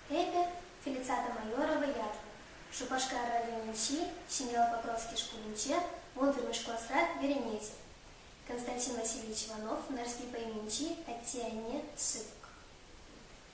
Эпӗ, Фелициата Майорова ят. Шупашкар районӗнчи Ҫӗньял Покровски шкулӗнче, вунпӗрмӗш класра вӗренет. Константин Васильевич Иванов Нарспи Пайминчи атте-анне, сыпӑк.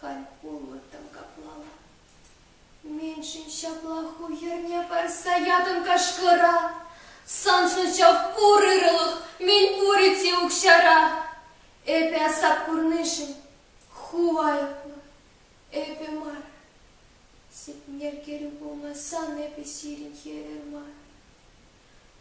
Хайхуллӑ тӑм каплала. Меншӗн ҫапла ху йӗрне парса ятӑн кашкӑра? Сан ҫӑлчав пур ырӑлӑх, мӗн пурӗ-те укҫара. Эпӗ асап курнишӗн ху айӑплӑ, эпӗ мар. Ситмер кӗрӳ пулнӑ сан эпӗ сирӗн хӗвел мар.